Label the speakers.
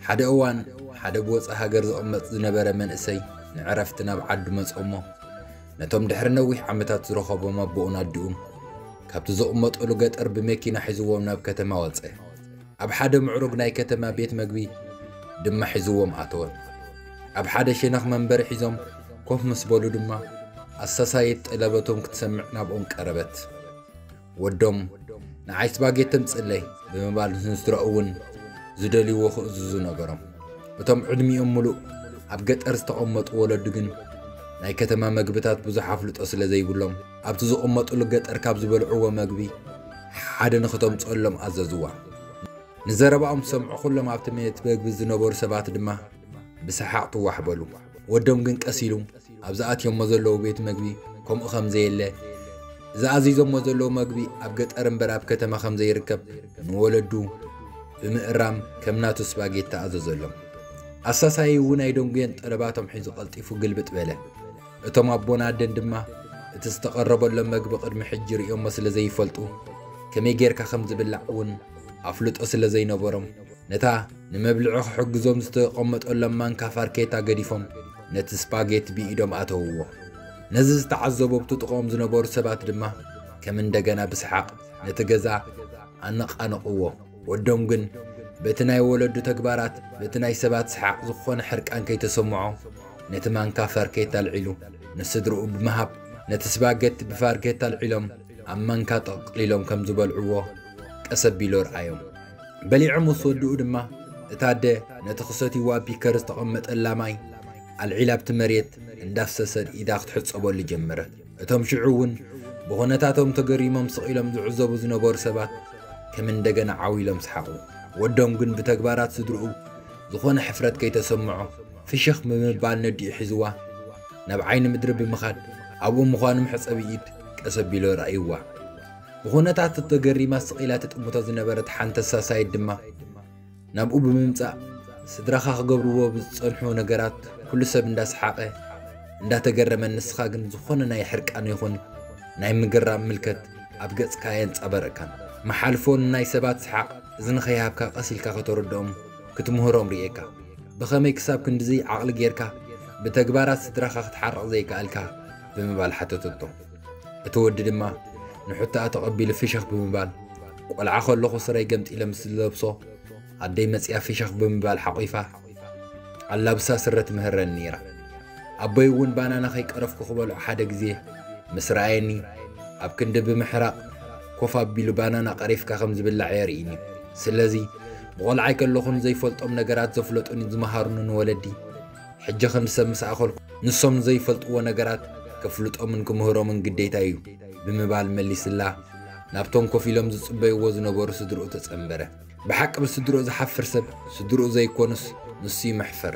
Speaker 1: ሓደ እዋን ሓደ ብወፃኢ ሃገር ዝቕመጥ ዝነበረ መንእሰይ ንዕረፍቲ ናብ ዓዱ መፅኦሞ ነቶም ድሕሪ ነዊሕ ዓመታት ዝረኸቦም ኣቦኡን ኣዲኡን ካብቲ ዝቕመጠሉ ገጠር ብመኪና ሒዝዎም ናብ ከተማ ወፀ ኣብ ሓደ ምዕሩግ ናይ ከተማ ቤት መግቢ ድማ ሒዝዎም ኣተወ። ኣብ ሓደ ሸነኽ መንበሪ ሒዞም ኮፍ ምስ በሉ ድማ ኣሳሳይት ጠለበቶም ክትሰምዕ ናብኦም ቀረበት። ወዶም ንዓይ ስፓጌቲ ተምጽለይ ብምባል ንስድራኡ እውን ዝደልይዎ ክእዝዙ ነገሮም። እቶም ዕድሚኦም ምሉእ ኣብ ገጠር ዝተቐመጡ ወለዱ ግን ናይ ከተማ መግብታት ብዙሕ ኣፍልጦ ስለ ዘይብሎም ኣብቲ ዝቕመጥሉ ገጠር ካብ ዝበልዕዎ መግቢ ሓደ ንኽተምፅኦሎም ኣዘዝዋ። ንዘረባኦም ዝሰምዑ ዅሎም ኣብቲ መየት መግቢ ዝነበሩ ሰባት ድማ ብሰሓቕ ትዋሕ በሉ። ወዶም ግን ቀስ ኢሉ ኣብዚ ኣትዮሞ ዘለዉ ቤት መግቢ ከምኡ ከም ዘየለ፣ እዚ ኣዚዞሞ ዘለዉ መግቢ ኣብ ገጠር እምበር ኣብ ከተማ ከም ዘይርከብ ንወለዱ ብምእራም ከም ናቱ ስፓጌቲ ኣዘዘሎም። ኣሳሳይ'ውን ኣይደንጉየን ጠለባቶም ሒዙ ቀልጢፉ ግልብጥ በለ። እቶም ኣቦን ኣደን ድማ እቲ ዝተቐረበሎም መግቢ ቅድሚ ሕጂ ርእዮሞ ስለ ዘይፈልጡ ከመይ ጌርካ ከም ዝብላዕ እውን ኣፍልጦ ስለ ዘይነበሮም ነታ ንመብልዒ ክሕግዞም ዝተቐመጠሎም ማንካ ፋርኬታ ገዲፎም ነቲ ስፓጌት ብኢዶም ኣተውዎ። ነዚ ዝተዓዘቡ ኣብቲ ጥቕኦም ዝነበሩ ሰባት ድማ ከም እንደገና ብስሓቕ ነቲ ገዛ ኣነቓነቕዎ። ወዶም ግን በቲ ናይ ወለዱ ተግባራት በቲ ናይ ሰባት ሰሓቕ ዝኾነ ሕርቃን ከይተሰምዖ ነቲ ማንካ ፋርኬታ ኣልዒሉ ንስድርኡ ብምሃብ ነቲ ስባገቲ ብፋርኬታ ኣልዒሎም ኣብ ማንካ ጠቕሊሎም ከም ዝበልዕዎ ቀስ ኣቢሉ ረኣዮም። በሊዖም ምስ ወድኡ ድማ እታ ኣደ ነቲ ክሰትይዎ ኣብ ፒከር ዝተቐመጠላ ማይ ኣልዒላ ኣብቲ መሬት እንዳፍሰሰት ኢዳ ክትሕጸበሉ ጀመረት። እቶም ሽዑ እውን ብኹነታቶም ተገሪሞም ስቕ ኢሎም ዝዕዘቡ ዝነበሩ ሰባት ከም እንደገና ዓው ኢሎም ሰሓቑ። ወዶም ግን ብተግባራት ስድርኡ ዝኾነ ሕፍረት ከይተሰምዖ ፍሽኽ ብምባል ነዲኡ ሒዝዋ ናብ ዓይኒ ምድሪ ብምኻድ ኣብኡ ምዃኑ መሕጸቢ ኢድ ቀስ ኣቢሎ ርኣይዋ። ብኹነታት ተገሪማ ስቕ ኢላ ትጥምቶ ዝነበረት ሓንተሳ ሳይድ ድማ ናብኡ ብምምጻእ ስድራኻ ክገብርዎ ብዝጸንሑ ነገራት ኩሉ ሰብ እንዳሰሓቐ እንዳተገረመ ንስኻ ግን ዝኾነ ናይ ሕርቃን ይኹን ናይ ምግራም ምልከት ኣብ ገጽካ ኣየንጻበረካን። መሓልፎ ንናይ ሰባት ሰሓቕ እዝኒ ከይሃብካ ቀስ ኢልካ ከተረድኦም ክትምህሮም ርእየካ። ብኸመይ ክሳብ ክንድዚ ዓቕሊ ጌርካ ብተግባራት ስድራኻ ክትሓርቕ ዘይከኣልካ? ብምባል ሓተተቶ። እቲ ወዲ ድማ ንሕቶኣ ተቐቢሉ ፍሽኽ ብምባል ቆልዓ ከለኹ ስረይ ገምጢለ ምስ ዝለብሶ ኣደይ መፅያ ፍሽኽ ብምባል ሓቑፋ ኣላብሳ ስረ ትምህረኒ ነይራ። ኣቦይ እውን ባናና ከይቀረፍኩ ክበልዑ ሓደ ግዜ ምስ ረኣየኒ ኣብ ክንዲ ብምሕራቕ ኮፍ ኣቢሉ ባናና ቀሪፍካ ከም ዝብላዕ የርእይኒ። ስለዚ ብቆልዓይ ከለኹን ዘይፈልጦም ነገራት ዘፍለጡኒ ዝመሃሩኒ ንወለዲ ሕጂ ከም ሰብ ምስ ኣኸልኩ ንሶም ዘይፈልጥዎ ነገራት ከፍልጦምን ክምህሮምን ግዴታይ እዩ ብምባል መሊስላ ናብቶም ኮፍ ኢሎም ዝጽበይዎ ዝነበሩ ስድርኡ ተጸንበረ። ብሓቂ ብስድርኡ ዝሓፍር ሰብ ስድርኡ ዘይኮኑስ ንሱ ይምሕፈር።